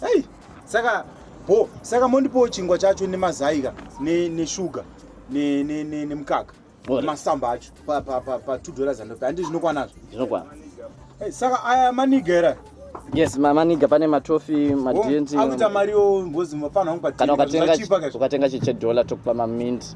Hey, saka bo saka mondipowo chingwa chacho nemazaika neshuga ne, ne, ne, nemukaka masamba acho pa, pa, pa, pa two dollars andopa handi zvinokwanazvo zvinokwana hey, saka aya maniga era yes mamaniga pane matofi madenti akuita mari yo ngozi mafana ukatenga chedollar tokupa mamint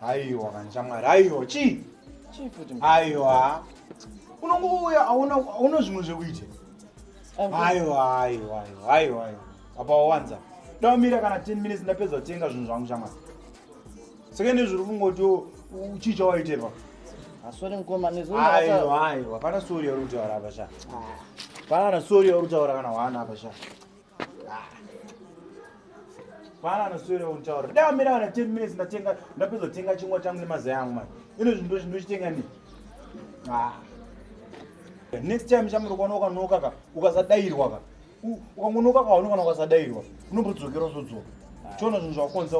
Haiwa kanishamwari, haiwa chii? Chii futi? Haiwa. Unongouya hauna hauna zvimwe zvekuita. Haiwa, haiwa, haiwa, haiwa. Apa wawanza. Daumira kana 10 minutes ndapedza kutenga zvinhu zvangu shamwari. Saka nezviri kungoti uchii chawaiterwa? Asori mkoma nezvo. Haiwa, haiwa. Hapana sori yauri kutaura apa sha. Ah. Hapana sori yauri kutaura kana wana apa sha. Bwana anoswera untaura. Da mira wana 10 minutes ndatenga ndapedza kutenga chingwa changu nemazai angu manje. Ino zvinhu ndozvi ndochitenga ni. Ah. Next time chamuri kuona ukanoka ka ukasadairwa ka. Ukangonoka ka unokana ukasadairwa. Unombodzokera uzodzoka. Chona zvinhu zvakonza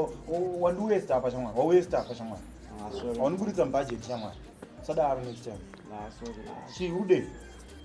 wandi waste apa chamwana. Wa waste apa chamwana. Ah, sorry. Wani buditsa budget chamwana. Sadaro next time. Ah, sorry. Chiude.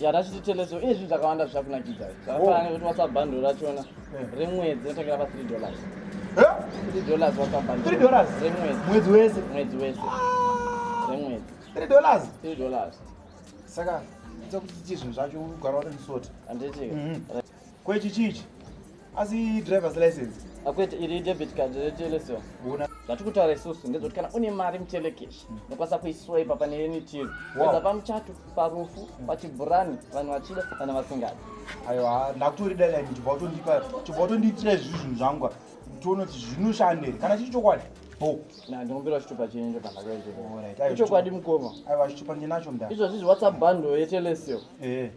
yatachititendeso ine zvinhu zvakawanda zvichakunakidza zvakafanana oh. nekuti whatsapp bundle rachona eh. remwedzi rinotangera pa 3 dollars 3 eh? dollars whatsapp bundle 3 dollars remwedzi mwedzi wese mwedzi wese ah. remwedzi 3 dollars 3 dollars saka ita kuti chizvinhu zvacho ugara uri msoti handiti mhm. Ko ichi chii ichi? Asi driver's license. Akwete iri debit card retelesio. Una zvati kutaura isusu ndezvoti kana une mari muchelekeshi hmm. nokwanisa kuiswaipa pane any tiro eza pamuchato parufu hmm. pachibhurani vanhu vachida kana vasingadi aiwa ndakutori deadline chibva utondipa chibva utondiitira izvi zvinhu zvangu tione kuti zvinoshanda here kana chiri chokwadi ndikumbira chitupa chenyu chokandakoichokwadi mukoma aiwa chitupa ndinacho mda izvozvi zviwhatsapp bundle yetelesio eh.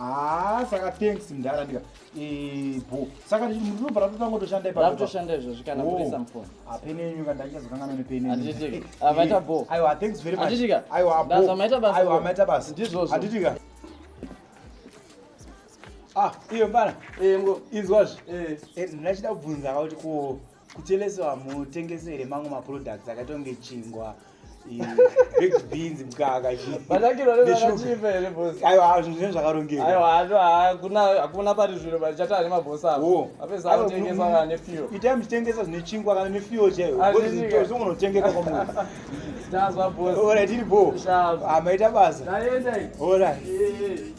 Ah, saka thanks mdhara ndika eh, bo saka ndinobva ratotanga toshanda ipaatoshanda izvozvi kana kurisa oh, mfoni apene yenyu ka ndaichazokangana nepeneavaita eh, bo aiwa thanks very much atitika aiwa bo amaita basa aiwa amaita basa ndizvozvo atitika ah iyo mbana eh, inzwazve eh, ndinachida kubvunza kuti ko kucheleso hamutengese here mamwe maproducts akaita kunge chingwa beans mkaka zvinhu zvakarongekahakuna pari zviro vachati ane mabhosi aoapesaatengesa nefuel itai muchitengesa zvine chingwa kana nefuel chaiyozongonotengeka kwamwedzi tazwa bosi oratiri bo amaita basa orit